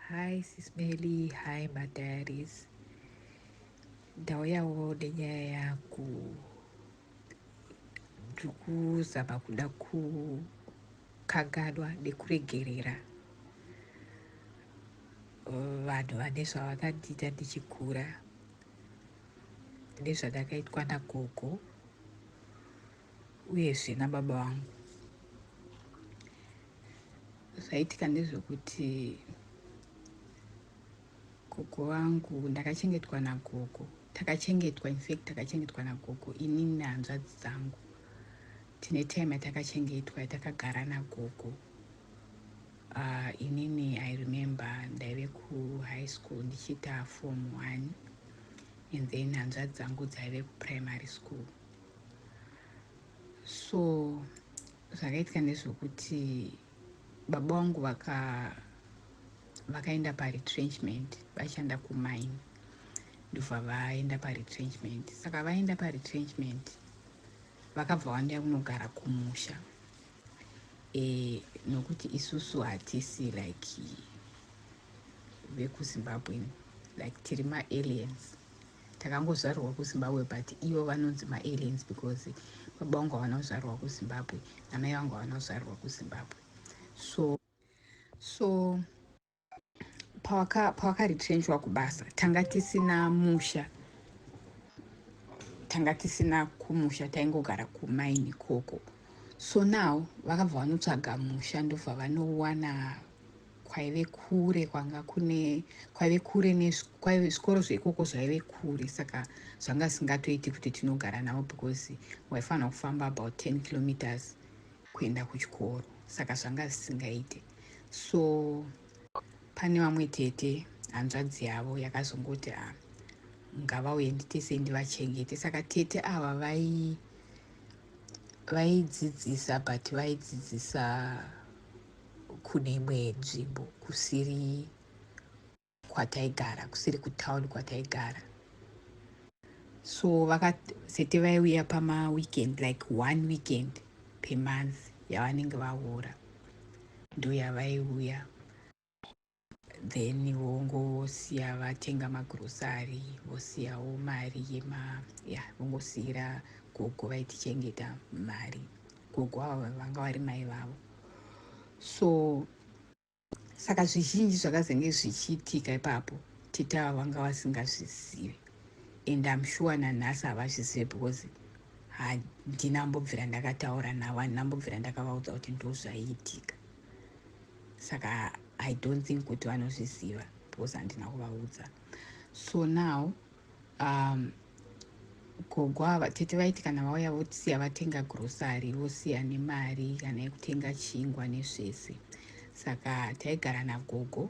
Hi sis Melly, hi madiaries. Ndauyawo nenyaya yangu ndiri kuzama kuda kukanganwa nekuregerera vanhu vane zvavakandiita ndichikura nezvandakaitwa nagogo uyezve nababa vangu zvaitika ndezvekuti gogo vangu ndakachengetwa nagogo takachengetwa infact takachengetwa nagogo ini nehanzvadzi dzangu tine time yatakachengetwa yatakagara nagogo uh, inini i remember ndaive kuhigh school ndichiita form one and then hanzvadzi dzangu dzaive kuprimary school so Zvakaitika ndezvokuti baba wangu vaka vakaenda paretrenchment vaishanda kumine ndobva vaenda paretrenchment saka vaenda paretrenchment vakabva vandiya kunogara kumusha e, nokuti isusu hatisi like vekuzimbabwe like tiri maaliens Takangozvarirwa kuZimbabwe but ivo vanonzi maaliens because baba vangu havana kuzvarirwa kuZimbabwe namai vangu havana kuzvarirwa kuZimbabwe so so pawakaretrenchwa pawaka kubasa tanga tisina musha tanga tisina kumusha taingogara kumaini ikoko so now vakabva vanotsvaga musha ndobva vanowana kwaive kure kwanga kune kwaive kure kwaive zvikoro zveikoko zvaive kure saka zvanga zvisingatoiti kuti tinogara navo because waifanira kufamba about 10 kilometers kuenda kuchikoro saka zvanga zvisingaite so pane vamwe tete hanzvadzi yavo yakazongoti a ah, ngavauye nditese ndivachengete saka tete ava vai vaidzidzisa but vaidzidzisa kune imwe nzvimbo kusiri kwataigara kusiri kutown kwataigara so vakasete vaiuya pamaweekend like one weekend pemonth yavanenge vahora ndoyavaiuya then wongosiya vatenga magrocery vosiyawo mari yema ya vongosiyira gogo vaitichengeta mari gogo ava vanga vari mai vavo so saka zvizhinji zvakazenge zvichiitika ipapo tete ava vanga vasingazvizivi and am sure nanhasi havazvizive because handina mbobvira ndakataura navo handina mbobvira ndakavaudza kuti ndozvaiitika saka i don't think kuti vanozviziva because handina kuvaudza so now um, gogo ava tete vaiti kana vauya vosiya vatenga grosary vosiya nemari kana yekutenga chingwa nezvese saka taigara nagogo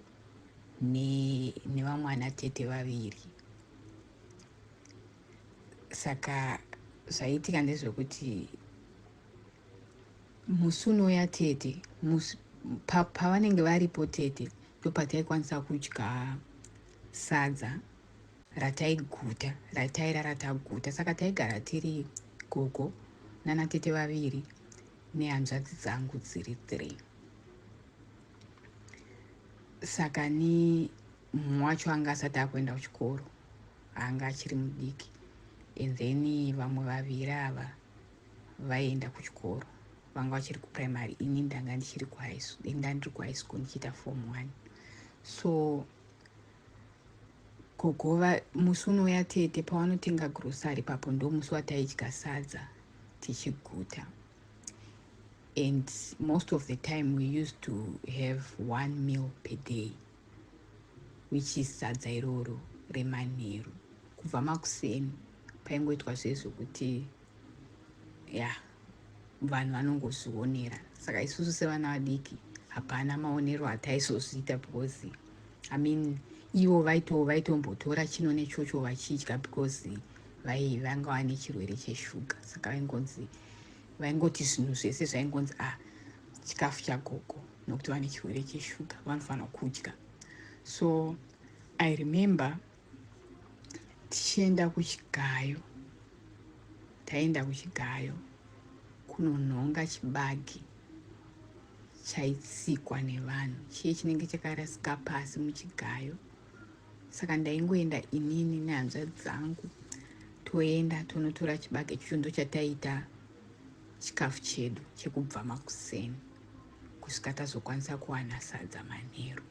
nevamwana ne tete vaviri saka zvaiitika ndezvekuti Musi unouya tete pavanenge varipo tete ndopataikwanisa kudya sadza rataiguta rataira rataguta saka taigara tiri gogo nana tete vaviri nehanzvadzi dzangu dziri three saka ni mumwe wacho anga asati akuenda kuchikoro anga achiri mudiki and then vamwe vaviri ava vaienda kuchikoro vanga vachiri kuprimary ini ndanga ndichiri kuinda ndiri kuhigh school ndichiita form one so gogova musi unouya tete pawanotenga grocery papo ndo musi wataidya sadza tichiguta and most of the time we used to have one meal per day which is sadza iroro remanheru kubva makuseni paingoitwa zvezvekuti ya yeah. vanhu vanongozvionera saka isusu sevana vadiki hapana maonero ataizozviita because i mean ivo vaito vaitombotora chino nechocho vachidya because vai vanga vane chirwere cheshuga saka vaingonzi vaingoti zvinhu zvese zvaingonzi a ah, chikafu chagogo nokuti vane chirwere cheshuga vanofanira kudya so i remember tichienda kuchigayo taenda kuchigayo kunonhonga chibagi chaitsikwa nevanhu chiye chinenge chakarasika pasi muchigayo saka ndaingoenda inini nehanzva dzangu toenda tonotora chibage chicho ndo chataiita chikafu chedu chekubva makuseni kusvika tazokwanisa kuwana sadza manheru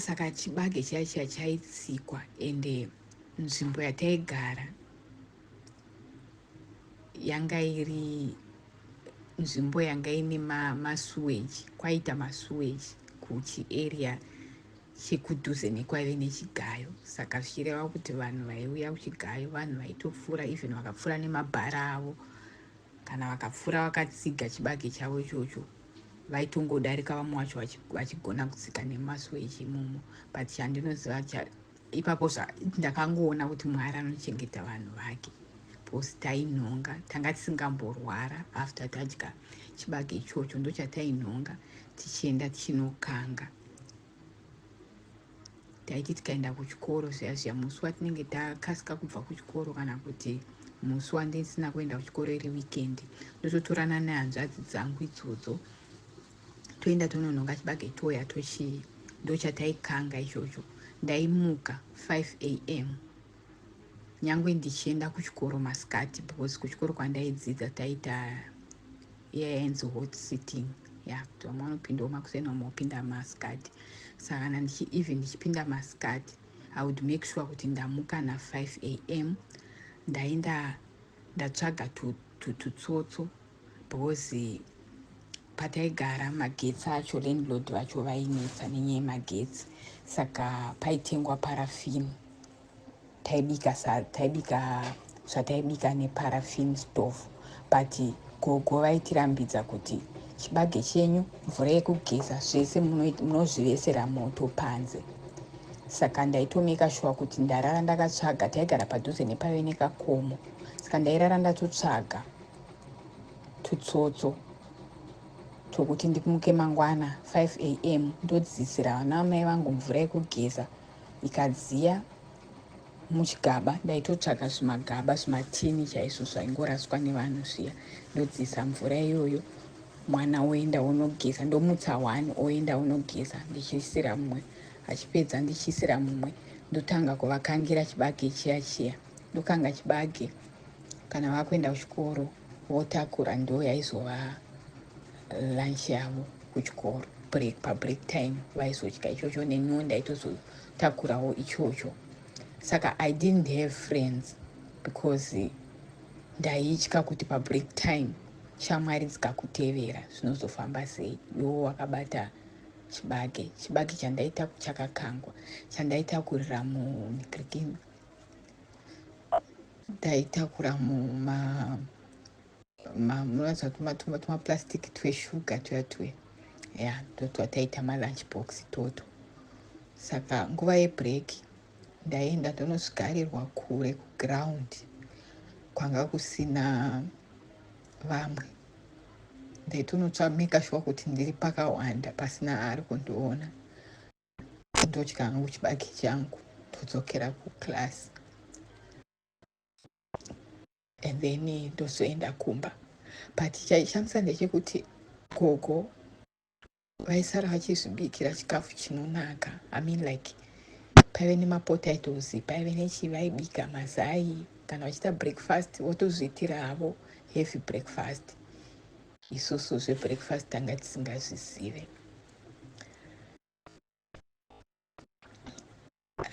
saka chibage chiya chiya chaitsikwa ende nzvimbo yataigara yanga iri nzvimbo yanga ine masuweji ma kwaita masuweji kuchiarea chekudhuze nekwaive nechigayo saka zvichireva kuti vanhu vaiuya kuchigayo vanhu vaitopfuura even vakapfuura nemabhara avo kana vakapfuura vakatsiga chibage chavo ichocho vaitongodarika vamwe wacho vachigona kutsika nemaso echimomo but chandinoziva ipapo ndakangoona kuti mwari anochengeta vanhu vake bcause tainhonga tanga tisingamborwara after tadya chibage ichocho ndochatainhonga tichienda tichinokanga taiti tikaenda kuchikoro zviya zviya musi watinenge takasika kubva kuchikoro kana kuti musi wandisina kuenda kuchikoro iri weekend ndototorana nehanzvadzi dzangu idzodzo toenda tononhonga chibage toya tochii ndochataikanga ichocho ndaimuka 5 a m nyangwe ndichienda kuchikoro masikati because kuchikoro kwandaidzidza taita yainzi hot sitting ya kuti vamwe vanopindawo makuseni vamwe vopinda masikati saka kana ndichi even ndichipinda masikati i would make sure kuti ndamuka na5 a m ndaenda ndatsvaga tutsotso because pataigara magetsi acho landlord vacho vainetsa nenyaya yemagetsi saka paitengwa parafini taibika taibika zvataibika neparafini stove but gogo vaitirambidza kuti chibage chenyu mvura yekugeza zvese munozvivesera moto panze saka ndaitomeka shuwa kuti ndarara ndakatsvaga taigara padhuze nepave nekakomo saka ndairara ndatotsvaga tutsotso twokuti ndimuke mangwana 5 am ndodzidzisira vana vamai vangu mvura yekugeza ikadziya muchigaba ndaitotsvaga zvimagaba zvimatini chaizvo zvaingoraswa nevanhu zviya ndodziisa mvura iyoyo mwana oenda onogeza ndomutsa one oenda onogeza ndichiisira mumwe achipedza ndichiisira mumwe ndotanga kuvakangira chibage chiya chiya ndokanga chibage kana vakuenda kuchikoro votakura ndo yaizova lunch yavo kuchikoro break pabreak time vaizodya ichocho neniwo ndaitozotakurawo ichocho saka i didn't have friends because ndaitya kuti pabreak time shamwari dzikakutevera zvinozofamba sei iwo wakabata chibage chibage chandaita chakakangwa chandaitakurira mugrikin ndaitakura muma munoratidza kuti matuma tuma plastic tweshuga tuya tuya ya ndotwataita malunch box toto saka nguva yebreak ndaienda ndonosvikarirwa kure kuground kwanga kusina vamwe ndaitonotsvamika shuwa kuti ndiri pakawanda pasina ari kundiona ndodya hangu chibage changu ndodzokera kuclass and then ndozoenda kumba but chaishamisa ndechekuti gogo vaisara vachizvibikira chikafu chinonaka i mean like paive nemapotatoes paive nechi vaibika mazai kana vachiita breakfast votozviitira havo heavy breakfast isusu zvebreakfast tanga tisingazvizive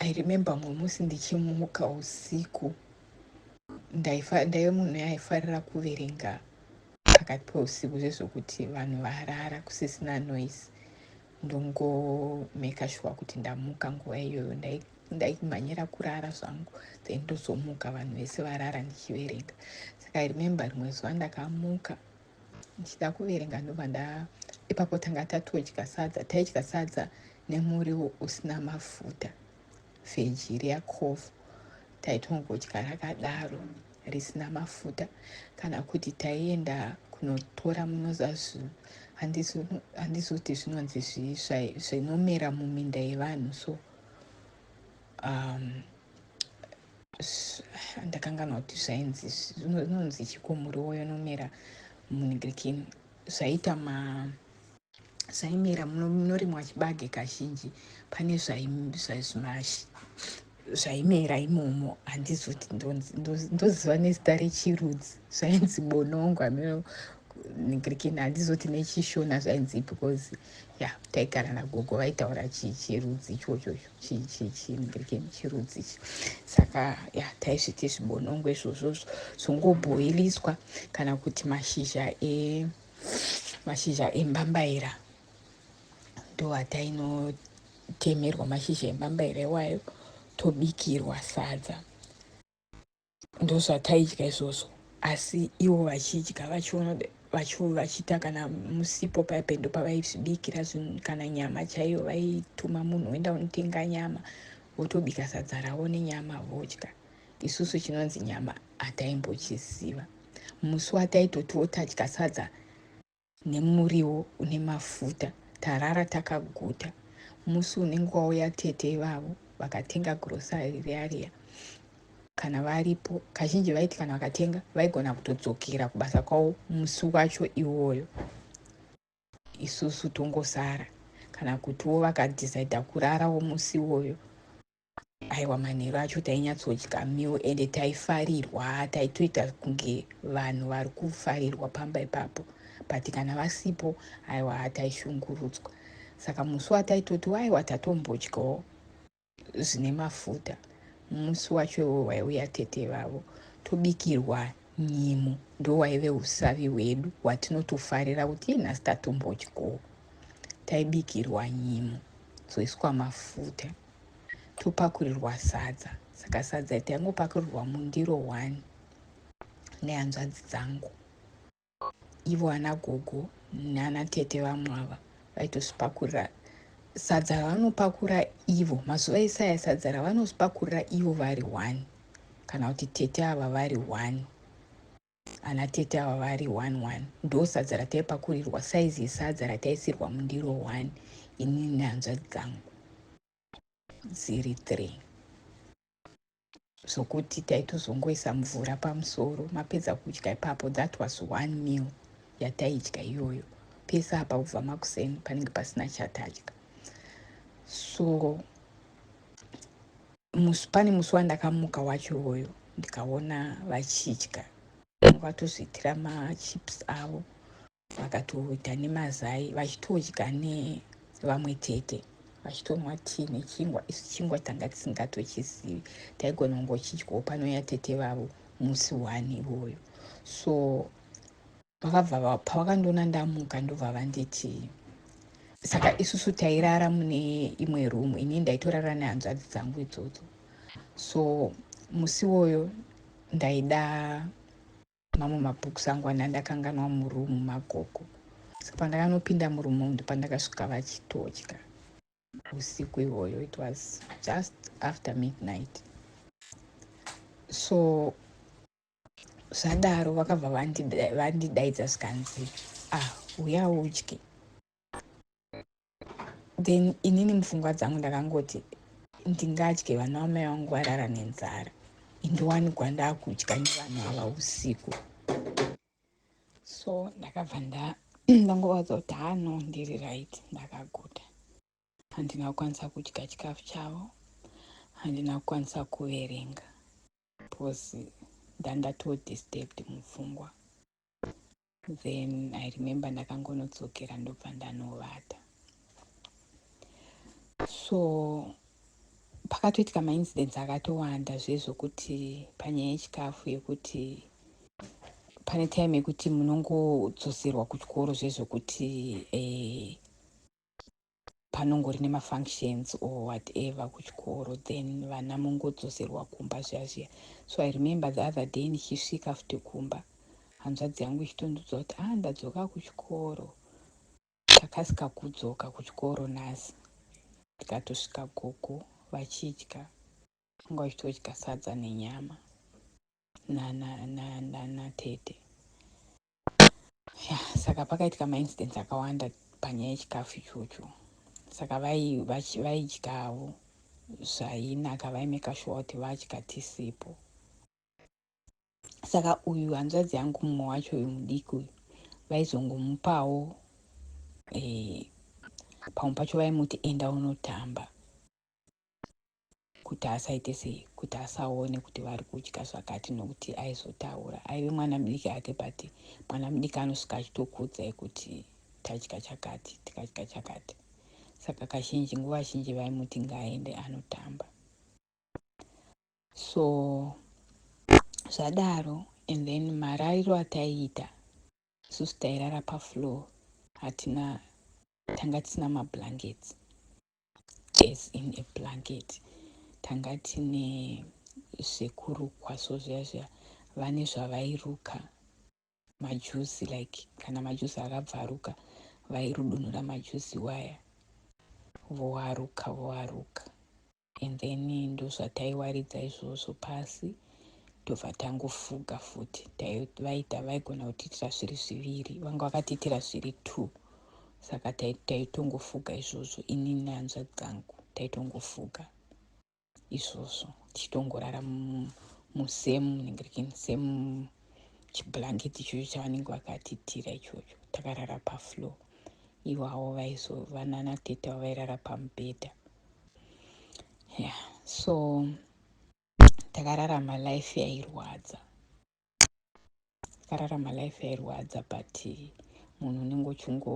i remember mumwe musi ndichimuka usiku ndaive munhu yaifarira kuverenga pakati peusiku zvezvokuti vanhu varara kusisina noise ndongomeka shuwa kuti ndamuka nguva iyoyo ndaimhanyira kurara zvangu then ndozomuka vanhu vese varara ndichiverenga saka i remember rimwe zuva ndakamuka ndichida kuverenga ndobva nda ipapo tanga tatodya sadza taidya sadza nemuriwo usina mafuta veji reacovo taitongodya rakadaro risina mafuta kana kuti taienda kunotora munozazu handizoti zvinonzi zvinomera muminda yevanhu so um, Ndakanganwa kuti zvainzi zvinonzi chiko muriwo yonomera munigirikini zvaita ma zvaimera munorimwa chibage kazhinji pane zvaimera imomo handizoti ndoziva nezita rechirudzi zvainzi bonongwa nigirikini handizoti nechishona zvainzi because ya taigara nagogo vaitaura chirudzi ichochocho chii chii chii mugirigeni chirudzi ichi saka ya taisviti zvibonongo izvozvozvo zvongobhoiliswa kana kuti mashizha e mashizha embambaira ndo atainotemerwa mashizha embambaira iwayo tobikirwa sadza ndozvataidya izvozvo asi ivo vachidya vachiona vachiita kana musipo paya pendo pavaizvibikira zvinhu kana nyama chaiyo vaituma munhu oenda unotenga nyama votobika sadza ravo nenyama vodya isusu chinonzi nyama hataimbochiziva musi wataitotiwo tadya sadza nemuriwo une mafuta tarara takaguta musi unenge wauya tete ivavo vakatenga grocery riya riya kana varipo kazhinji vaiti kana vakatenga vaigona kutodzokera kubasa kwavo musi wacho iwoyo isusu tongosara kana kutiwo vakadhisaidha kurarawo musi iwoyo Aiwa manheru acho tainyatsodya meal ende taifarirwa taitoita kunge vanhu vari kufarirwa pamba ipapo but kana vasipo aiwa taishungurudzwa saka musi wataitoti waiwa tatombodyawo zvine mafuta musi wacho iwo waiuya tete vavo tobikirwa nyimu ndo waive usavi hwedu hwatinotofarira kuti iye nhasi tatombodyawo taibikirwa nyimu dzoiswa mafuta topakurirwa sadza saka sadza taingopakurirwa mundiro one nehanzvadzi dzangu ivo ana gogo nana tete vamwe ava vaitosipakurira sadza ravanopakura ivo mazuva esaya sadza ravanosipakurira ivo vari one kana kuti tete ava vari one Ana tete ava vari one one ndosadza rataipakurirwa saizi yesadza rataisirwa mundiro one ini nehanzvadzi dzangu dziri three zvokuti taitozongoisa mvura pamusoro mapedza kudya ipapo that was one meal yataidya iyoyo pese apa kubva makuseni panenge pasina chatadya so Musi pane musi wandakamuka wacho iwoyo ndikaona vachidya vakatozviitira machips avo vakatoita nemazai vachitodya nevamwe tete vachitonwa tii nechingwa isu chingwa tanga tisingatochizivi taigona kungochidyawo panouya tete vavo musi one iwoyo so vakabva pavakandiona ndamuka ndobva vanditi saka isusu tairara mune imwe room ini ndaitorara nehanzvadzi dzangu idzodzo so musi woyo ndaida mamwe mabooks angu ana ndakanganwa muroom magogo saka pandakanopinda muroom umu ndopandakasvika vachitotya usiku ihoyo it was just after midnight so zvadaro vakabva vandidaidza zvikanzi ah uya udye then inini mupfungwa dzangu ndakangoti ndingadye vana vamai vangu varara nenzara indiwanikwa ndakudya nevanhu ava usiku so ndakabva nda ndangovaudza kuti hano ndiri right ndakaguta handina kukwanisa kudya chikafu chavo handina kukwanisa kuverenga Because ndangatoo disturbed mupfungwa. Then I remember ndakangonodzokera ndobva ndanovata. So pakatoitika maincidents akatowanda zvezvokuti panyaya yechikafu yekuti pane time yekuti munongodzoserwa kuchikoro zvezvokuti eh, panongori nemafunctions or whatever kuchikoro then vana mongodzoserwa kumba zviya zviya so i remember the other day ndichisvika futi kumba hanzvadzi yangu ichitondudza kuti ah ndadzoka kuchikoro takasika kudzoka kuchikoro nhasi tikatosvika gogo vachidya anga vachitodya sadza nenyama nanatete na, na, na, yeah, saka pakaitika maincidents akawanda panyaya yechikafu ichocho saka vaidyavo zvainaka vaimeka shuwa kuti vadya tisipo saka uyu hanzvadzi yangu mumwe wacho uyu mudiki uyu vaizongomupawo e, pamwe pacho vaimuti enda unotamba kuti asaite sei kuti asaone kuti vari kudya zvakati nokuti aizotaura aive mwana mudiki ake but mwana mudiki anosvika achitokuudzai kuti tadya chakati tikadya chakati saka kazhinji nguva zhinji vaimuti ngaaende anotamba so zvadaro and then marariro ataiita isusu tairara pafloor hatina tanga tisina mablankets Death in a blanket tanga tine zvekurukwa so zviya zviya vane zvavairuka majuzi like kana majuzi akabvaruka vairudunura majuzi waya voaruka voaruka and then ndozvataiwaridza izvozvo pasi tobva tangofuga futi vaita vaigona kutiitira zviri zviviri vanga vakatiitira zviri two saka taitongofuga izvozvo ini nehanzvadzi dzangu taitongofuga izvozvo tichitongorara musem munenge rikin sem chiblanketi ichocho chavanenge vakatitira ichocho takarara pafloor iwawo vaizo vanana tete avo vairara pamubhedha yeah so takararama life yairwadza akararama life yairwadza but munhu unenge uchingo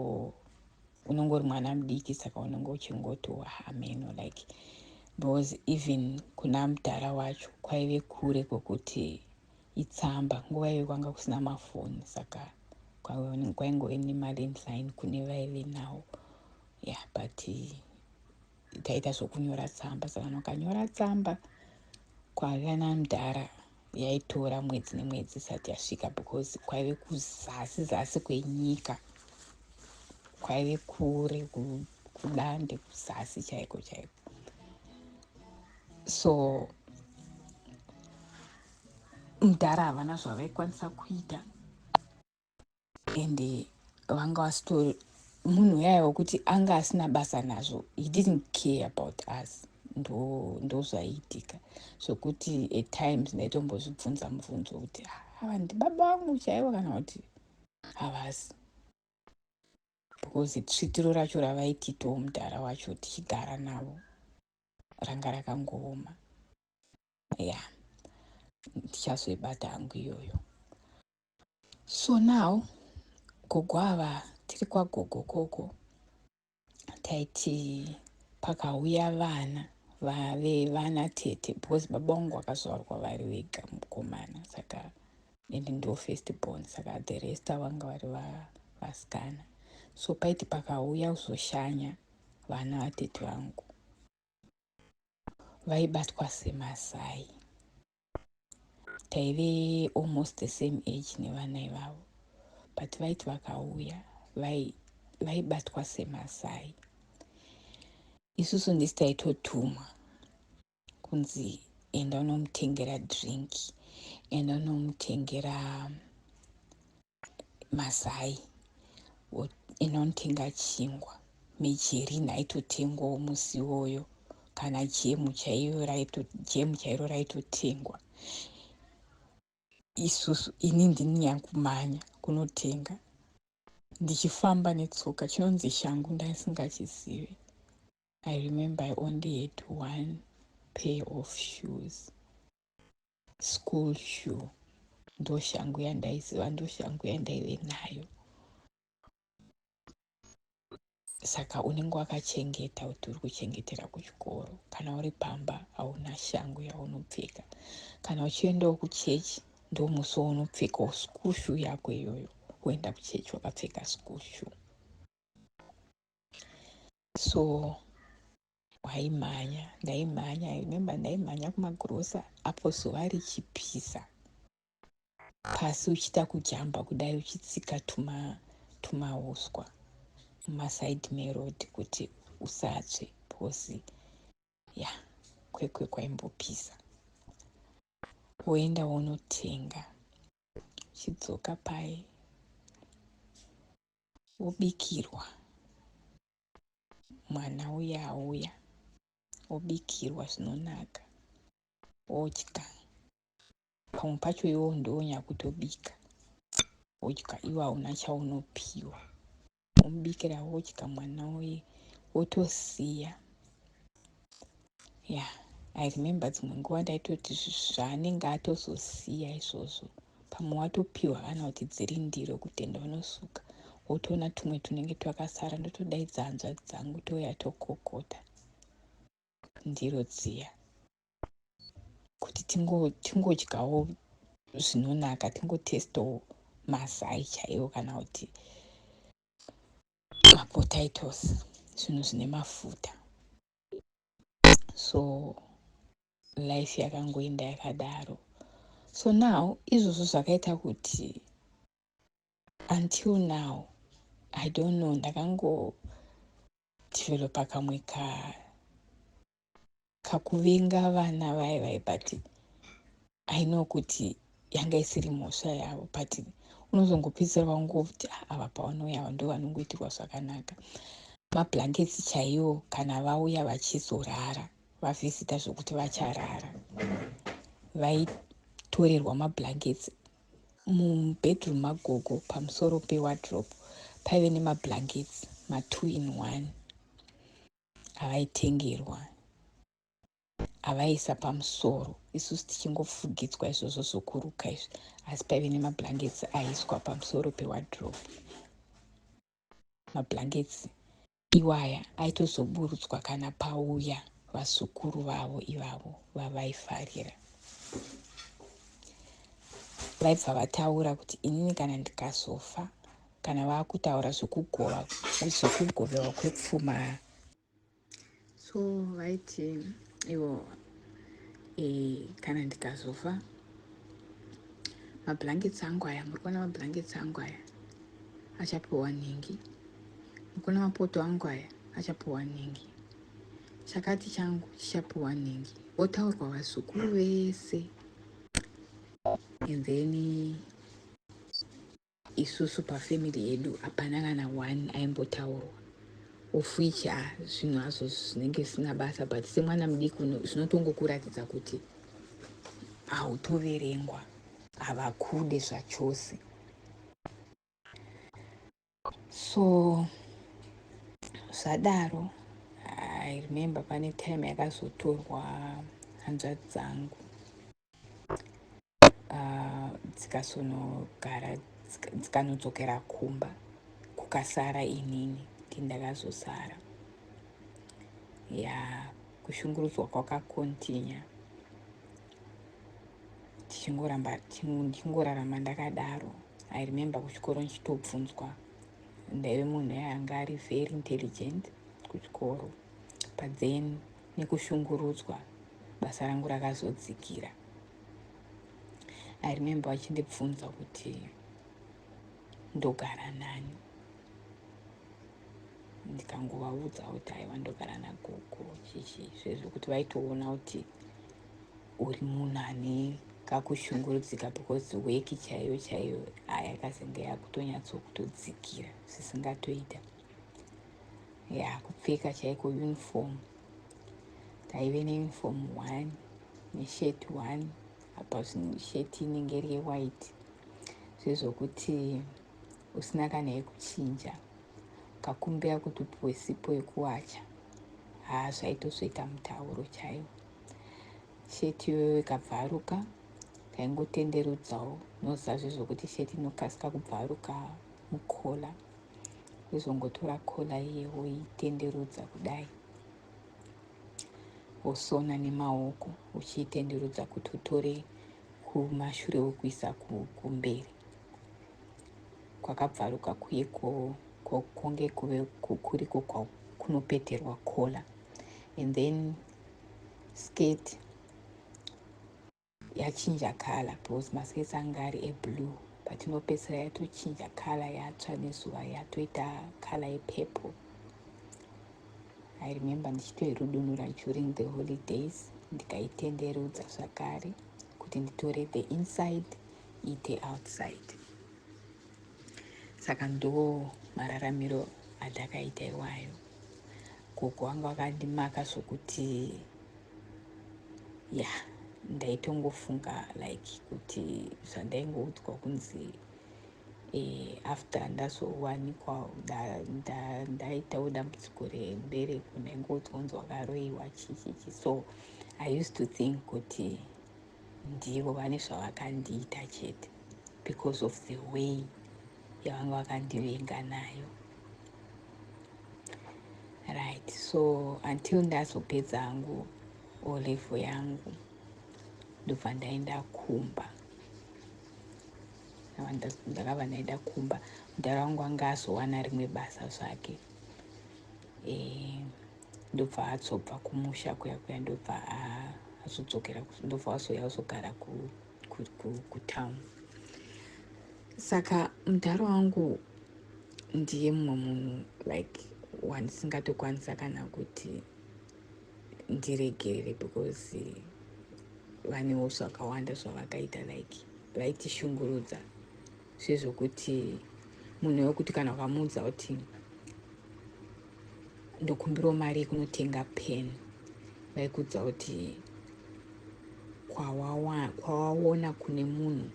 unongori mwana mudiki saka unenge uchingoti wahameno like because even kuna mudhara wacho kwaive kure kwekuti itsamba nguva iyo kwanga kusina mafoni saka kwaingove nemari msain kune vaive nawo ya yeah, but taita zvokunyora tsamba savanhu vakanyora tsamba kwavana mudhara yaitora mwedzi nemwedzi isati yasvika because kwaive kuzasi zasi kwenyika kwaive kure kudande kuzasi chaiko chaiko so mudhara havana zvavaikwanisa kuita and vanga vasitori munhu uyaye wekuti anga asina basa nazvo he didn't care about us ndozvaiitika ndo zvekuti at times ndaitombozvibvunza mubvunzo kuti ah, ava ndibaba vangu chaivo kana kuti havasi because tsvitiro racho ravaititawo mudhara wacho tichigara navo ranga rakangooma ya ndichazoibata hangu iyoyo So now gogo ava tiri kwagogo koko taiti pakauya vana vave vana tete because baba vangu vakazvarwa vari vega mukomana saka and ndo first born saka the rest vanga vari vasikana so paiti pakauya kuzoshanya vana vatete vangu vaibatwa semasai taive almost the same age nevana ivavo but vaiti vakauya vaibatwa vai semasai isusu ndisi taitotumwa kunzi enda unomutengera drink enda unomutengera mazai inontenga chingwa mejerini aitotengwawo musi iwoyo kana jemu chaiyo jemu chairo raitotengwa isusu ini ndini yankumanya kunotenga ndichifamba netsoka chinonzi shangu ndaisingachizive i remember i only had one pair of shoes school shoe ndoshangu yandaiziva ndoshangu yandaive nayo saka unenge wakachengeta kuti uri kuchengetera kuchikoro kana uri pamba hauna shangu yaunopfeka kana uchiendawo kuchechi ndomusi waunopfekawo school shoe yako iyoyo woenda kuchechi wakapfeka school shoe so Waimhanya, ndaimhanya, I remember ndaimhanya kumagrosa apo zuva richipisa pasi uchiita kujamba kudai uchitsika tuma tumauswa mumaside meroad kuti usatsve because ya yeah, kwekwe kwaimbopisa woenda wonotenga uchidzoka paye wobikirwa mwana uya auya obikirwa zvinonaka odya pamwe pacho iwo ndowonyakutobika wodya iwe hauna chaunopiwa womubikira wodya mwana uye wotosiya yeah i remember dzimwe nguva ndaitoti zvaanenge atozosiya izvozvo pamwe watopiwa kana kuti dziri ndiro kutenda unosuka wotoona tumwe tunenge twakasara ndotodaidza hanzvadzi dzangu touya tokokota ndiro dziya kuti tingodyawo zvinonaka tingotestawo mazai chaiwo kana kuti mapotatoes zvinhu zvine mafuta so life yakangoenda yakadaro so now izvozvo zvakaita kuti until now i don't know ndakangodevelopa kamwe ka kakuvenga vana vaye vaye but i know kuti yanga isiri mhosva yavo but unozongopedzisira vangoti ah, ava pavanouya ava ndo vanongoitirwa zvakanaka mablankets chaiwo kana vauya vachizorara vavhizita zvokuti vacharara vaitorerwa mablankets mubedroom magogo pamusoro pewadrop paive nemablankets matwo in one avaitengerwa avaisa pamusoro isusu tichingofugidzwa izvozvo zvokuruka izvi asi paive nemablankets aiswa pamusoro pewadrop mablankets iwaya aitozoburutswa kana pauya vazukuru vavo ivavo vavaifarira vaibva vataura kuti inini kana ndikazofa Kana vakutaura zvekugova zvekugovewa kwepfuma so vaiti ivo e, kana ndikazofa mablankets angu aya muri kuona mablankets angu aya achapiwa nhingi muri kuona mapoto angu aya achapiwa nhingi chakati changu chichapiwa nhingi votaurwa vazukuru vese and then Isusu pa family yedu hapana kana one aimbotaurwa of which ah, zvinhu hazvo zvinenge zvisina basa but semwana mudiki zvinotongokuratidza kuti hautoverengwa havakude zvachose so zvadaro i remember pane time yakazotorwa hanzvadzi dzangu ah, dzikasonogara dzikanodzokera kumba kukasara inini kuti ndakazosara ya kushungurudzwa kwakakontinya tichingoramba tichingorarama ndakadaro i remember kuchikoro ndichitobvunzwa ndaive munhu yaanga ari very intelligent kuchikoro but then nekushungurudzwa basa rangu rakazodzikira. I remember vachindibvunza kuti ndogara nani ndikangovaudza kuti aiwa ndogara nagogo chichi zvezvo kuti vaitoona kuti uri munhu ane kakushungurudzika because weki chaiyo chaiyo ayakazenge yakutonyatsokutodzikira zvisingatoita ya kupfeka chaiko uniform taive neuniform one neshirt one apa shirt inenge iri yewhite zvezvokuti usina kana yekuchinja ukakumbira kuti upiwe sipo yekuwacha haa zvaitozoita mutauro chaiwo sheti iyoyo ikabvaruka taingotenderudzawo noziva zvezvokuti sheti inokasika kubvaruka mukola wozongotora kola iye woitenderudza kudai wosona nemaoko uchiitenderudza kuti utore kumashure wokuisa kumberi kwakabvaruka kuye konge kuve kuriko kunopeterwa kola and then skate yachinja color because maskates anga ari eblue but inopedzisira yatochinja color yatsva nezuva yatoita color yepurple i remember ndichitoirudunura during the holidays ndikaitenderudza zvakare kuti nditore the inside iite outside saka ndo mararamiro andakaita iwayo gogo wangu akandimaka zvokuti ya ndaitongofunga like kuti zvandaingoudzwa kunzi eh, after ndazowanikwa ndaitawo dambudziko rembereko ndaingoudzwa kunzi wakaroiwa chichichi so i used to think kuti ndivo vane zvavakandiita chete because of the way yavanga vakandivenga nayo right so until ndazopedza hangu olevo yangu ndobva ndaenda kumba ndakabva ndaenda kumba mudhara wangu anga azowana rimwe basa zvake eh, ndobva azobva kumusha kuya kuya ndobva azodzokera ndobva azouya azogara ku kutown saka mudhara wangu ndiye mumwe munhu like wandisingatokwanisa kana kuti ndiregerere because vanewo zvakawanda zvavakaita like vaitishungurudza sezvokuti munhu wekuti kana ukamuudza kuti ndokumbirawo mari yekunotenga pen vaikuudza kuti kwawaona kune munhu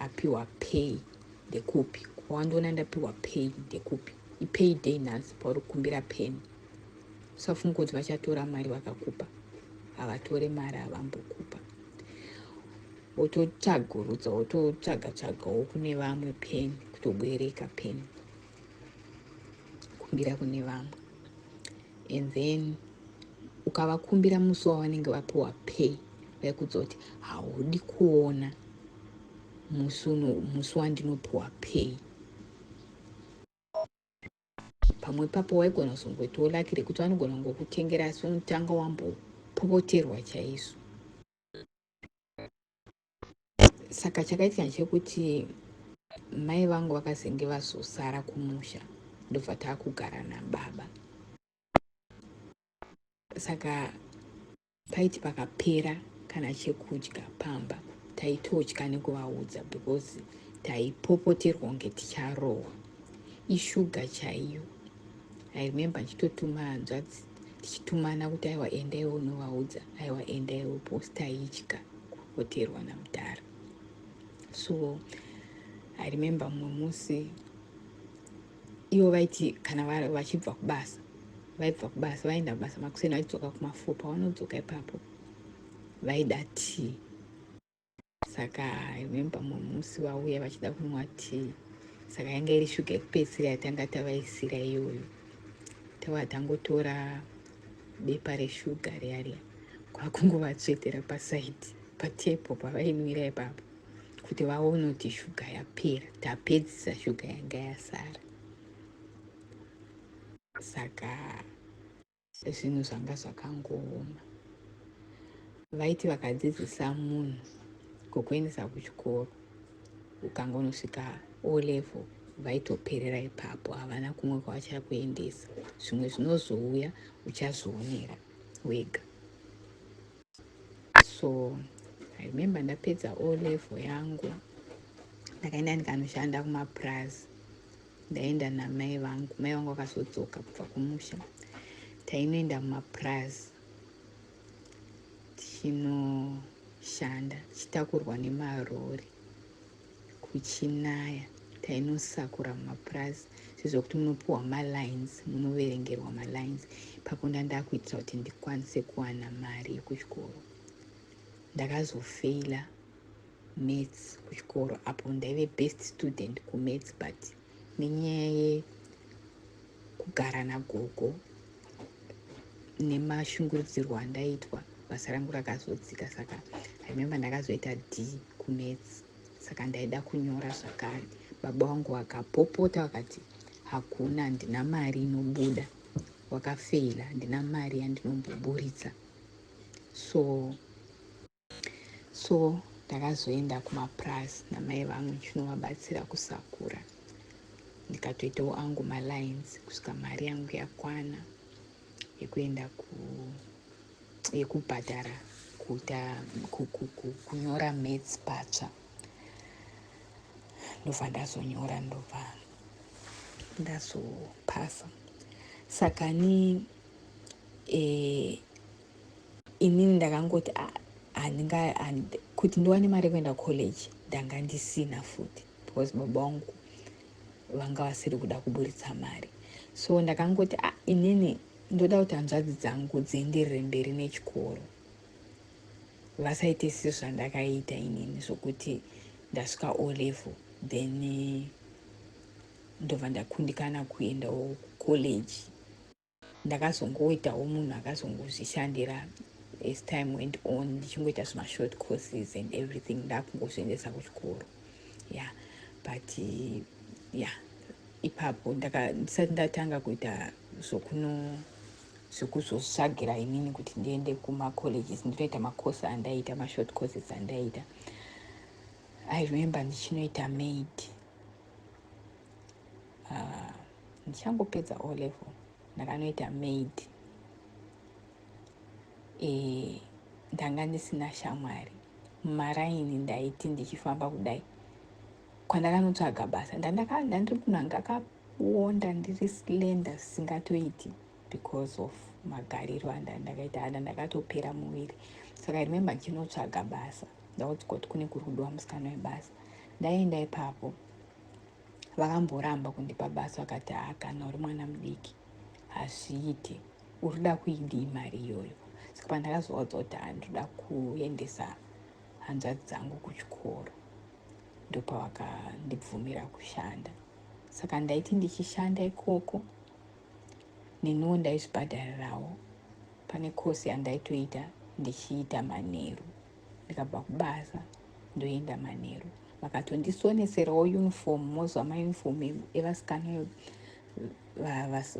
apiwa pay ndekupi kwawandiona ndapiwa pay ndekupi ipay day nhasi pauri kukumbira pen usafunga kuti vachatora mari vakakupa havatore mari havambokupa wototsvagurudza wototsvaga tsvagawo kune vamwe pen kutobwereka pen kumbira kune vamwe and then ukavakumbira musi wavanenge vapiwa pay vaikuudza kuti haudi kuona musi uno musi wandinopiwa pay pamwe papo waigona kuzongoitawo laki rekuti vanogona kungokutengera asi unotanga wambopopoterwa chaizvo saka chakaitika chekuti mai vangu vakazenge vazosara kumusha ndobva taakugara nababa saka paiti pakapera kana chekudya pamba taitotya nekuvaudza because taipopoterwa kunge ticharohwa ishuga chaiyo i remember ndichitotuma hanzvadzi tichitumana kuti aiwa endai unovaudza aiwa endai uposta itya kupoterwa namudhara so i remember mumwe musi ivo vaiti kana vachibva kubasa vaibva kubasa vaenda kubasa makuseni vachidzoka kumafupa vanodzoka ipapo vaida tii saka i remember mumwe musi vauya vachida kunwa tea saka yanga iri shuga yekupedzisira yatanga tavaisira iyoyo tava tangotora bepa reshuga riya riya kwakungovatsvetera pasaidi patepo pavainwira ipapo kuti vaone kuti shuga yapera tapedzisa shuga yanga yasara saka zvinhu zvanga zvakangooma vaiti vakadzidzisa munhu kukuendesa kuchikoro ukangonosvika o level vaitoperera ipapo havana kumwe kwavachakuendesa zvimwe zvinozouya uchazvionera wega so i remember ndapedza o level yangu ndakaenda ndikanoshanda kumapurazi Ndaenda namai vangu, mai vangu vakazodzoka kubva kumusha. Tainoenda mumapurazi tichinoshanda tichitakurwa nemarori kuchinaya tainosakura mumapurazi sezvekuti munopiwa malines munoverengerwa malines ipapo ndandakuitira kuti ndikwanise kuwana mari yekuchikoro ndakazofeila maths kuchikoro apo ndaive best student kumaths but nenyaya yekugara nagogo nemashungurudzirwo andaitwa basa rangu rakazodzika saka remember ndakazoita d kumaths saka ndaida kunyora zvakare baba wangu vakapopota vakati hakuna ndina mari inobuda wakafeila ndina mari yandinomboburitsa so so ndakazoenda kumapurazi namai vangu ndichinovabatsira kusakura ndikatoitawo angu malines kusvika mari yangu yakwana yekuenda yekubhadhara kuita kunyora mats patsva ndobva ndazonyora ndobva ndazopasa saka ni eh, Inini ndakangoti ah handinga and, kuti ndiwane mari yekuenda college ndanga ndisina futi because baba wangu vanga vasiri kuda kuburitsa mari so ndakangoti ah inini ndoda kuti hanzvadzi dzangu dzienderere mberi nechikoro vasaite sisi zvandakaita inini zvokuti ndasvika o level then ndobva ndakundikana kuendawo college ndakazongoitawo munhu akazongozvishandira as time went on ndichingoita zvimashort courses and everything ndakungozviendesa kuchikoro ya yeah. but ya yeah. ipapo ndisati ndatanga kuita zvokuno zvekuzosvagira inini kuti ndiende kumacolleges ndinoita macourse andaiita mashort courses andaiita i remember ndichinoita maid uh, ndichangopedza O level ndakanoita maid e, ndanga ndisina shamwari mumaraini ndaiti ndichifamba kudai kwandakanotsvaga basa ndandiri kuna ndakaonda ndiri slenda zvisingatoiti because of magariro andandakaita ana ndakatopera muviri saka remembe ndinotsvaga basa ndakuti koti kune kuri kudiwa musikana webasa ndaenda ipapo vakamboramba kundipa basa vakati haa kana uri mwana mudiki hazviiti urikuda kuidii mari iyoyo saka pandakazovaudza kuti haa ndinoda kuendesa hanzvadzi dzangu kuchikoro ndopavakandibvumira kushanda saka ndaiti ndichishanda ikoko neniwo ndaizvibhadharirawo pane kosi yandaitoita ndichiita manheru ndikabva kubasa ndoenda manheru vakatondisonetserawo uniform mozwa mauniform evasikana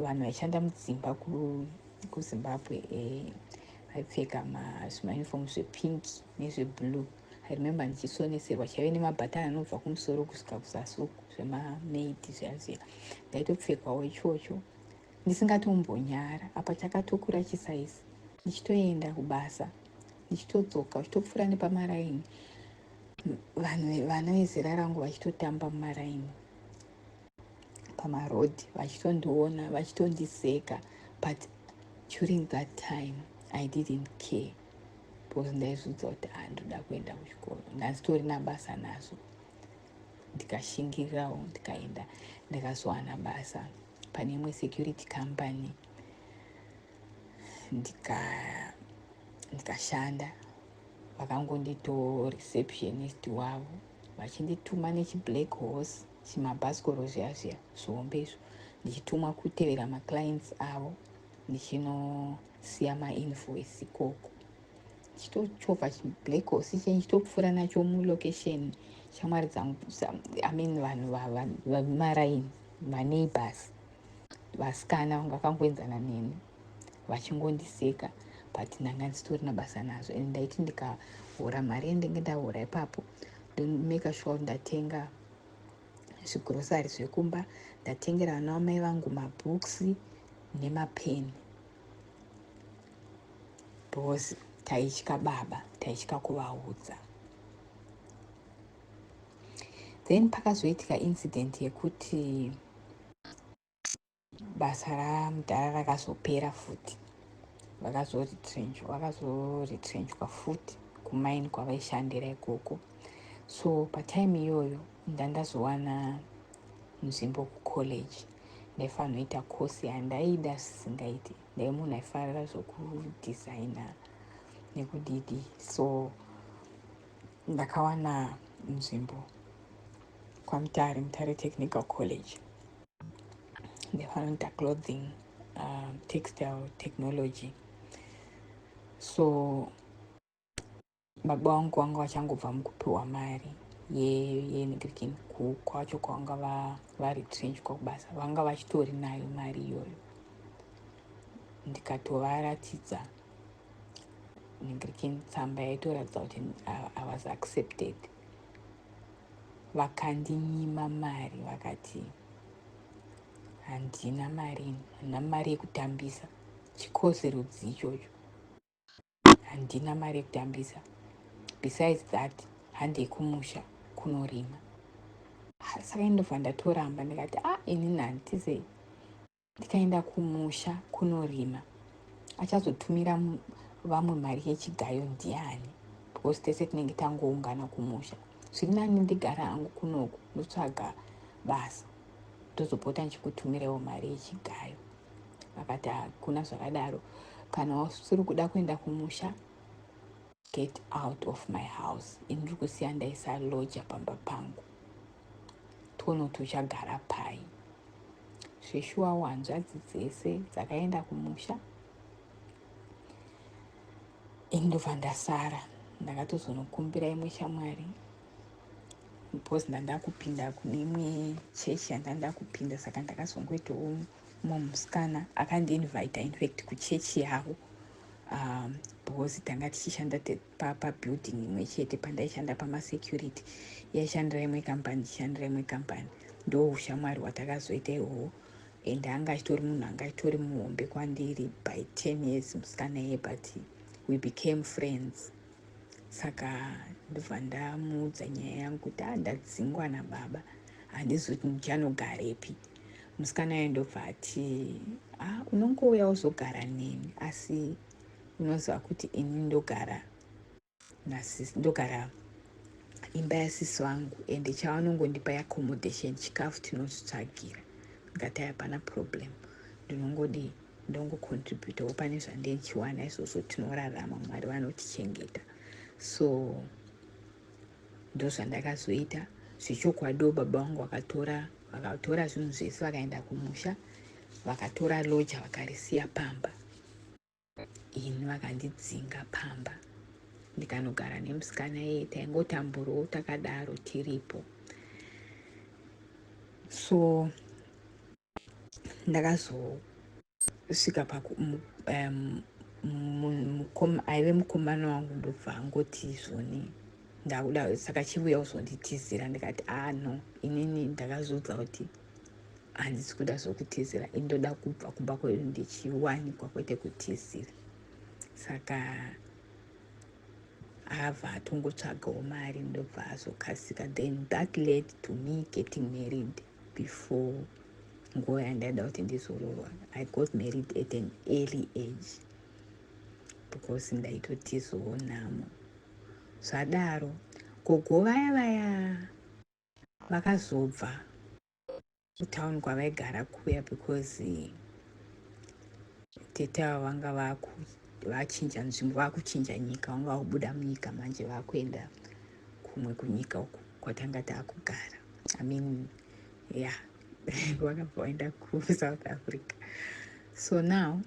vanhu vaishanda mudzimba kuzimbabwe eh, vaipfeka zvimauniform zvepink nezveblue i remember ndichisonetserwa chaive nemabhatani anobva kumusoro kusvika kuzasi uku zvemamaidi zvazvira ndaitopfekawo ichocho ndisingatombonyara apa chakatokura chisaizi ndichitoenda kubasa ndichitodzoka uchitopfuura nepamaraini vanhu vana vezera rangu vachitotamba mumaraini pamarodhi vachitondiona vachitondiseka but during that time i didn't care because ndaizvidza kuti andoda ah, kuenda kuchikoro ndanzitori nabasa nazvo ndikashingirirawo ndikaenda ndakazowana basa pane imwe security company ndikashanda nika vakangondito receptionist wavo vachindituma nechiblack horse chimabhasikoro zviya zviya zvihombe izvo ndichitumwa kutevera maclients avo ndichinosiya mainvoice ikoko chitochovha chiblack horse chenyu chitopfuura nacho mulocation shamwari dzangu i mean vanhu vamaraini vaneighbors vasikana vanga vakangoenzana neni vachingondiseka but ndanga ndisitorina basa nazvo and ndaiti ndikahora mari yendenge ndahora ipapo ndomeka sure ndatenga zvigrosari zvekumba ndatengera vana vamai vangu mabooks nemapeni because taitya baba taitya kuvaudza then pakazoitika incident yekuti basa ramudhara rakazopera futi vakazoretrenchwa futi kumaini kwavaishandira ikoko so patime iyoyo ndandazowana nzvimbo kucollege ndaifanoita course yandaida zvisingaiti ndai munhu aifarira zvokudesigner nekudidi so ndakawana nzvimbo kwamutare mutare technical college ndefanoita clothing um, textile technology so baba vangu vanga vachangobva mukupiwa mari yenigrikin kwacho kwavanga varetrenchwa kubasa vanga vachitori nayo mari iyoyo ndikatovaratidza nigrikin tsamba yaitoratidza kuti i was accepted vakandinyima mari vakati handina mari handina mari yekutambisa chikosi rudzi ichocho handina mari yekutambisa besides that handei kumusha kunorima saka indobva ndatoramba ndikati a ah, inini handitize ndikaenda kumusha kunorima achazotumira vamwe mari yechigayo ndiani because tese tinenge tangoungana kumusha zviri nani ndigara hangu kunoku ndotsvaga basa ndozopota ndichikutumirewo mari yechigayo vakati hakuna zvakadaro kana usiri kuda kuenda kumusha get out of my house ini ndiri kusiya ndaisa loja pamba pangu tione kuti uchagara pai zveshuwa wanzvadzi dzese dzakaenda kumusha ini ndobva ndasara ndakatozonokumbira imwe shamwari because ndanda kupinda kune imwe chechi yanda nda kupinda saka ndakazongoitawo mumwe musikana akandiinvita infact kuchechi yavo um, because tanga tichishanda pabuilding pa imwe chete pandaishanda pamasecurity yaishandira imwe kambani ichishandira imwe kambani ndo ushamwari hwatakazoita ihoho and anga achitori munhu anga achitori muhombe kwandiri by ten years musikana iye but we became friends saka ndobva ndamuudza nyaya yangu kuti a ndadzingwa nababa handizi kuti ndichanogarepi musikana aye ndobva ati a unongouya uzogara neni asi unoziva kuti ini ndogara ndogara imba yasisi vangu ende chavanongondipa yacommodation chikafu tinozvitsvagira ndikati hapana problem ndinongodi ndongocontributawo pane zvandichiwana izvozvo tinorarama mwari vanotichengeta so ndozvandakazoita zvechokwadiwo baba vangu vakatora vakatora zvinhu zvese vakaenda kumusha vakatora loja vakarisiya pamba ini vakandidzinga pamba ndikanogara nemusikana iye taingotamburowo takadaro tiripo so ndakazosvika paku um, aive mukomana wangu ndobva angoti izvoni ndakuda saka chivuya kuzonditizira ndikati ah no inini ndakazviudza kuti handisi kuda zvokutizira indoda kubva kumba kwedu ndichiwanikwa kwete kutizira saka ava atongotsvagawo mari ndobva azokasika then that led to me getting married before nguva yandaida kuti ndizoroorwa i got married at an early age because ndaitotizowo nhamo zvadaro gogo vaya vaya vakazobva kutown kwavaigara kuya because tete ava vanga vachinja nzvimbo vakuchinja nyika vanga vakubuda munyika manje vakuenda kumwe kunyika uku kwatanga takugara i mean ya yeah. vakabva vaenda kusouth africa so now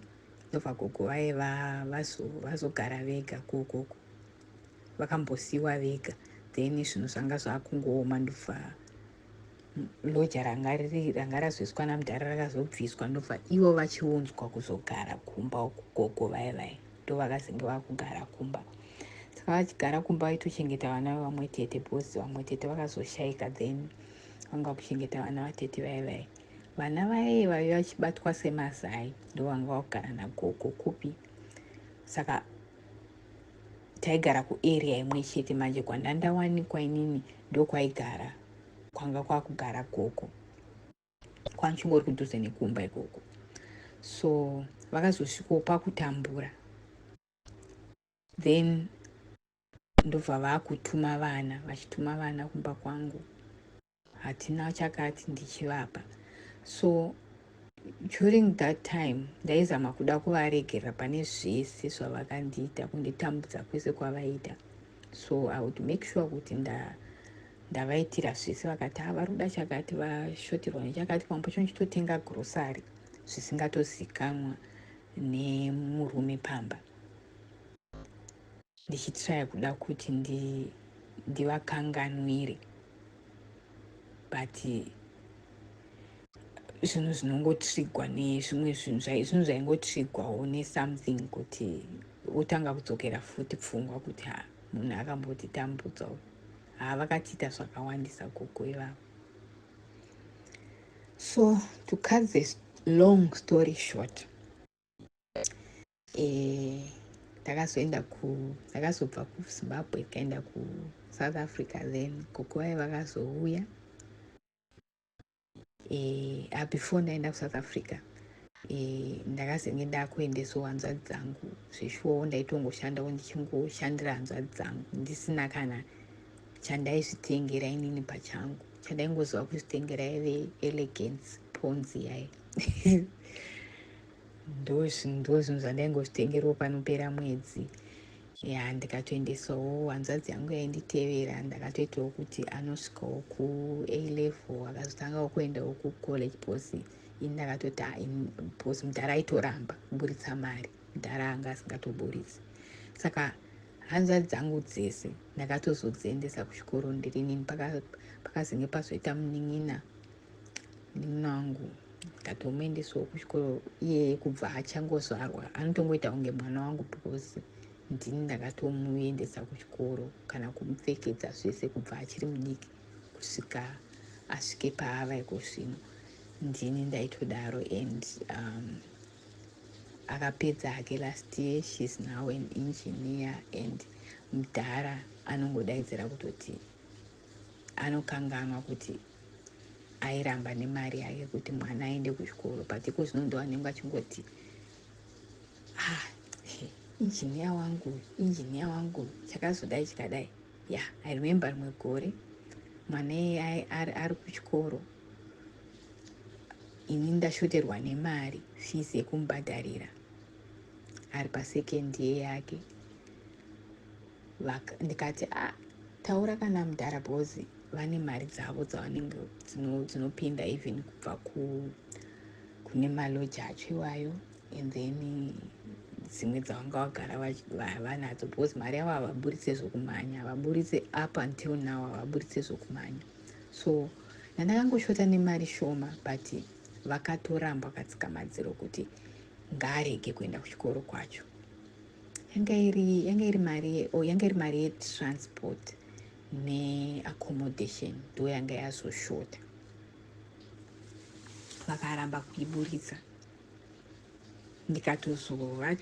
ndobva gogo vaye vazogara vega kokoko vakambosiiwa vega then zvinhu zvanga zvakungooma ndobva loja ranga riri ranga razoiswa namudhara rakazobviswa ndobva ivo vachiunzwa kuzogara kumba uku gogo vaye vaye ndo vakazenge vakugara kumba saka vachigara kumba vaitochengeta vana vevamwe tete because vamwe tete vakazoshaika then vanga vakuchengeta vana vatete vaye vaye vana vaye vaive vachibatwa semazai ndo vanga vakugara nagogo kupi saka taigara kuarea imwe chete manje kwandandawanikwa inini ndokwaigara kwanga kwakugara gogo kwanchingori kudhuze nekumba ikoko so vakazosvikawo pakutambura then ndobva vakutuma vana vachituma vana kumba kwangu hatina chakati ndichivapa so during that time ndaizama kuda kuvaregerera pane zvese zvavakandiita kunditambudza kwese kwavaita so i would make sure kuti nda ndavaitira zvese vakati ha vari kuda chakati vashoterwa nechakati pamwe pacho ndichitotenga grosary zvisingatozikanwa nemurume pamba Ndichitraya kuda kuti ndi ndivakanganwire but zvinhu zvinongotrigwa nezvimwe zvinhu zvinhu zvaingotrigwawo nesomething kuti wotanga kudzokera futi pfungwa kuti ha munhu akambotitambudza uyu haa vakatiita zvakawandisa gogo ivavo so to cut this long story short eh, ndakazoenda ku ndakazobva kuzimbabwe ndikaenda kusouth africa then gogo vaye vakazouya eh, ah, before ndaenda kusouth africa eh, ndakazenge ndakuendesawo hanzvadzi dzangu zveshuwawo ndaitongoshandawo ndichingoshandira hanzvadzi dzangu ndisina kana chandaizvitengera inini pachangu chandaingoziva kuzvitengera yave elegance ponzi yaye ndozvinhu zvandaingozvitengerwo panopera mwedzi ya ndikatoendesawo hanzvadzi yangu yainditevera ndakatoitawo kuti anosvikawo kuA level akazotangawo kuendawo kucollege bcause ini ndakatoti bcause mudhara aitoramba kuburitsa mari mudhara anga asingatoburitsi saka hanzvadzi dzangu dzese ndakatozodziendesa kuchikoro ndiri nini pakazenge pazoita munin'ina Munin'ina wangu ndatomuendesawo kuchikoro iyeye kubva achangozvarwa anotongoita kunge mwana wangu because ndini ndakatomuendesa kuchikoro kana kumupfekedza zvese kubva achiri mudiki kusvika asvike paava iko zvino ndini ndaitodaro and um, akapedza hake last year she's now an engineer and mudhara anongodaidzira kutoti Anokanganwa kuti airamba nemari yake kuti mwana aende kuchikoro but iko zvino ndo anenge achingoti ah, injiniya wangu injiniya wangu chakazodai chikadai ya yeah, i remember rimwe gore mwana iyeye ari kuchikoro ini ndashoterwa nemari fees yekumubhadharira ari pasecond year yake Vak, ndikati ah taura kana mdhara bcoz vane mari dzavo dzavanenge dzino, dzinopinda even kubva ku kune maloji acho iwayo and then dzimwe dzavanga vagara vanadzo because mari yavo havaburitse zvokumhanya havaburitse up until now havaburitse zvokumhanya so ndandakangoshota nemari shoma but vakatorambwa katsikamadziro kuti ngaarege kuenda kuchikoro kwacho yanga iri yanga iri mari oh, yanga iri mari yetransport neaccommodation ndo yanga yazoshota vakaramba kuiburitsa ndikatozova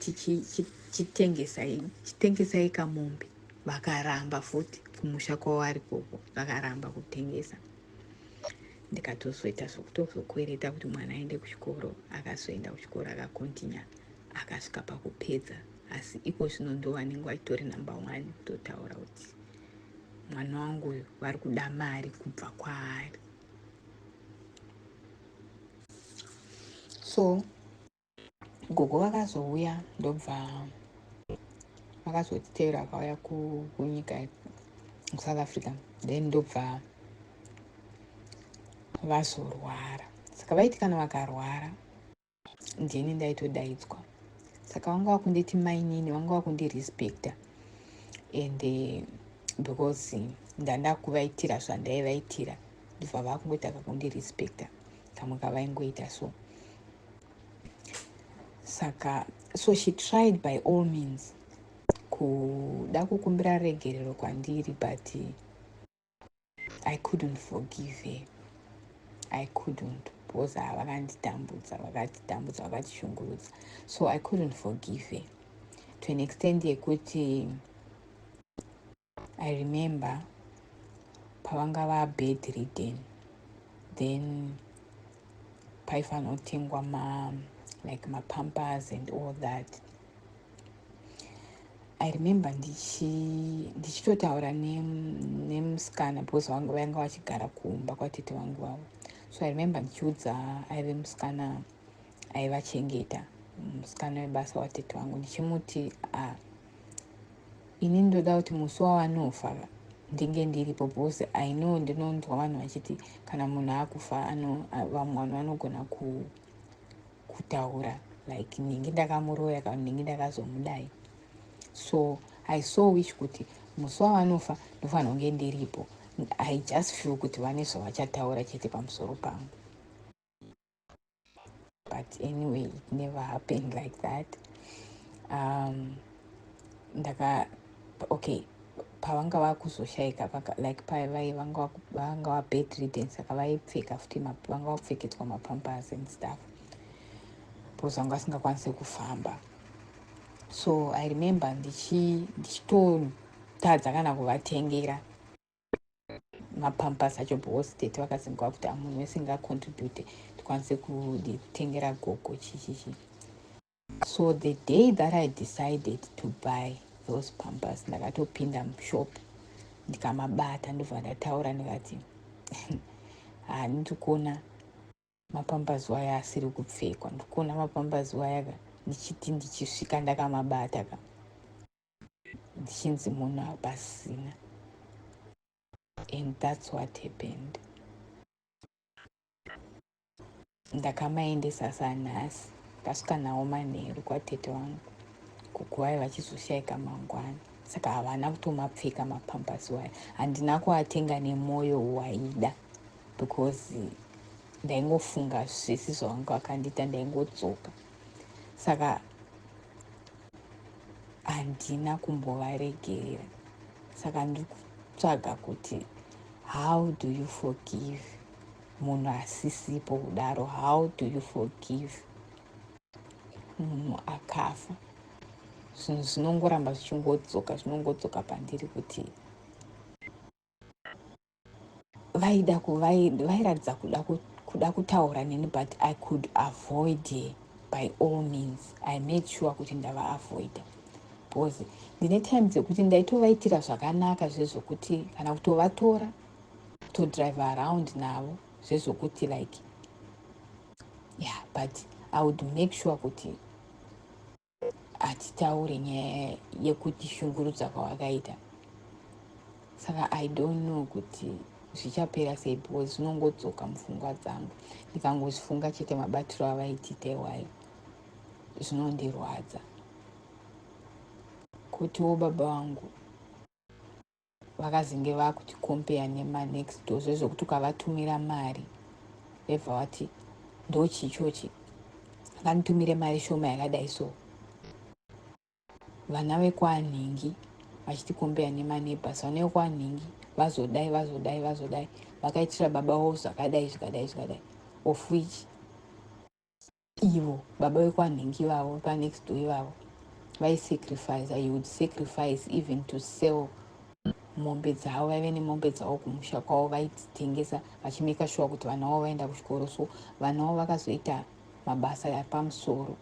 chitengesai chitengesai kamombe vakaramba futi kumusha kwavo ari koko vakaramba kutengesa ndikatozoita zvekutozokwereta kuti mwana aende kuchikoro akazoenda kuchikoro akakontinya akasvika pakupedza asi iko zvino ndo vanenge vachitori numbe one kutotaura kuti mwana wangu uyu vari kuda mari kubva kwaari so gogo vakazouya ndobva vakazotitevera vakauya kunyika kusouth africa then ndobva vazorwara saka vaiti kana vakarwara ndini ndaitodaidzwa saka vanga vakunditi mainini vanga vakundirespecta and eh, because ndandakuvaitira zvandaivaitira ndobva vakungotaka kundirespecta kamwe kavaingoita so saka so she tried by all means kuda kukumbira regerero kwandiri but i couldn't forgive her i couldn't because vakanditambudza vakatitambudza vakatishungurudza so i couldn't forgive her to an extent yekuti I remember pavanga va bed ridden then paifanotengwa ma like mapampers and all that i remember ndichitotaura nemusikana because vanga vachigara kumba kwatete vangu vavo so i remember ndichiudza aive musikana aivachengeta musikana webasa watete wangu ndichimuti ah, ini ndoda kuti musi wawanofa ndinge ndiripo because i know ndinonzwa vanhu vachiti kana munhu akufa vamwe vanhu vanogona kutaura like ndinge ndakamuroya kana ndinge ndakazomudai so i saw which kuti musi wavanofa ndofanira kunge ndiripo i just feel kuti vane zvavachataura chete pamusoro pangu but anyway it never happened like that um, ndaka okay pavanga vakuzoshaika like pavai vanga vabedridden saka vaipfeka futi vanga vakupfekedzwa mapampers and stuff because vanga vasingakwanise kufamba so i remember ndichitotadza kana kuvatengera mapampas acho boss tete vakazingwa kuti amunhu wese ngacontribute tikwanise kutengera gogo chichichi so the day that i decided to buy those pampas ndakatopinda mushop ndikamabata ndobva ndataura ndikati haa ndikuona mapambazuva aya asiri kupfekwa ndikuona mapambazuva aya ka ndichiti ndichisvika ndakamabata ka ndichinzi munhu hapasina and thats what happened ndakamaendesa sanhasi ndasvika nawo manheru kwatete wangu kuguwai vachizoshaika mangwana saka havana kutomapfeka mapampasi waya handina kuatenga nemwoyo waida because ndaingofunga zvisi zvavangu vakandiita ndaingodzoka saka handina kumbovaregerera saka ndiri kutsvaga kuti how do you forgive munhu asisipo kudaro how do you forgive munhu akafa zvinhu zvinongoramba zvichingodzoka zvinongodzoka pandiri kuti vaida vairatidza kuda kuda kutaura neni but i could avoid her by all means i made sure kuti ndavaavoida because ndine time dzekuti ndaitovaitira zvakanaka zvezvokuti kana kutovatora kutodrive around navo zvezvokuti like yeah but i would make sure kuti hatitaure nyaya yekuti shungurudza kwawakaita saka i don't know kuti zvichapera sei because zvinongodzoka mupfungwa dzangu ndikangozvifunga chete mabatiro avaitita iwayo zvinondirwadza kutiwo baba vangu vakazenge vakuti compare nema next door zvezvekuti ukavatumira mari vebva vati ndochii chochi akanditumire mari shoma yakadai so vana vekwanhingi vachiti compare nema neighbors vana vekwanhingi vazodai vazodai vazodai vakaitira baba vavo zvakadai zvikadai zvikadai of which Ivo baba vekwanhingi ivavo vepanext door ivavo vaisacrificer, he would sacrifice even to sell mombe dzavo. Vaive nemombe dzavo kumusha kwavo vaidzitengesa vachimaker sure kuti vana vavo vaenda kuchikoro, so vana vavo vakazoita mabasa epamusoro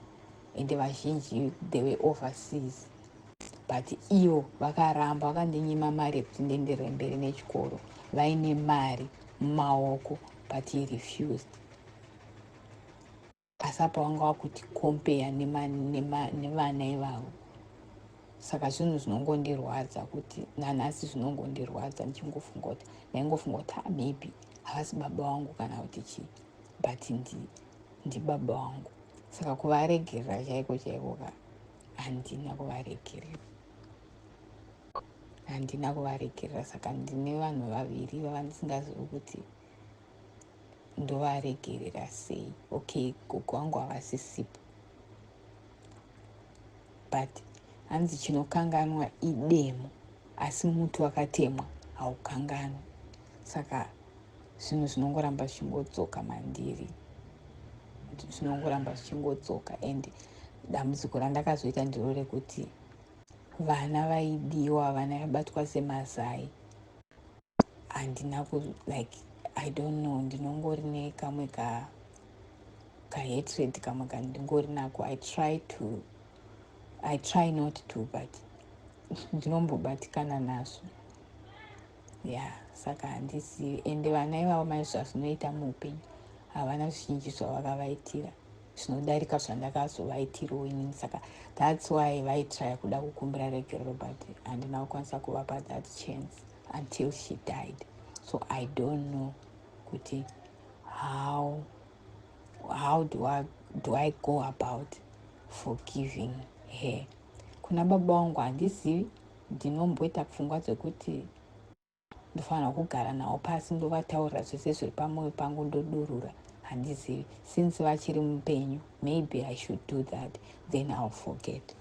ende vazhinji they were overseas but ivo vakaramba vakandinyima mari yekuti ndienderere mberi nechikoro vaine mari mumaoko but he refused. asi apa wanga wakuti kompeya nevana ivavo saka zvinhu zvinongondirwadza kuti nanhasi zvinongondirwadza ndichingofunga kuti ndaingofunga kuti ah, maybe havasi baba wangu kana kuti chii but ndi ndibaba wangu saka kuvaregerera chaiko chaiko ka handina kuvaregerera handina kuvaregerera saka ndine vanhu vaviri vavandisingazivi kuti ndovaregerera sei okay gogo wangu havasisipo but hanzi chinokanganwa idemo asi muti wakatemwa haukanganwi saka zvinhu zvinongoramba zvichingodzoka mandiri zvinongoramba zvichingodzoka and dambudziko randakazoita ndiro rekuti vana vaidiwa vana vabatwa semazai handina ku like i don't know ndinongori nekamwe ka kahatred kamwe kandingori nako i try to i try not to but ndinombobatikana nazvo ya yeah, saka handizivi ende vana ivavo mai zvazvinoita muupenyu havana zvizhinji zvavakavaitira zvinodarika zvandakazovaitirawo inini saka thats why vaitraya kuda kukumbira regerero but handina kukwanisa kuvapa that chance until she died so i don't know kuti how how do i, do I go about forgiving her kuna baba wangu handizivi ndinomboita pfungwa dzekuti ndofanira kugara nawo pasi ndovataurira zvese zviri pamwoyo pangu ndodurura handizivi since vachiri mupenyu maybe i should do that then ill forget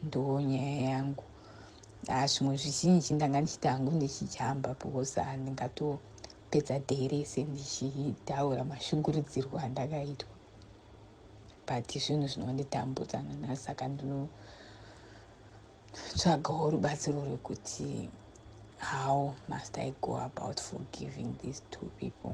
ndoo nyaya yangu ah, zvimwe zvizhinji ndanga ndichita hangu ndichijamba because handingatopedza day rese ndichitaura mashungurudzirwo andakaitwa but zvinhu zvinonditambudza nanhasi saka ndinotsvagawo rubatsiro rwekuti how must i go about forgiving these two people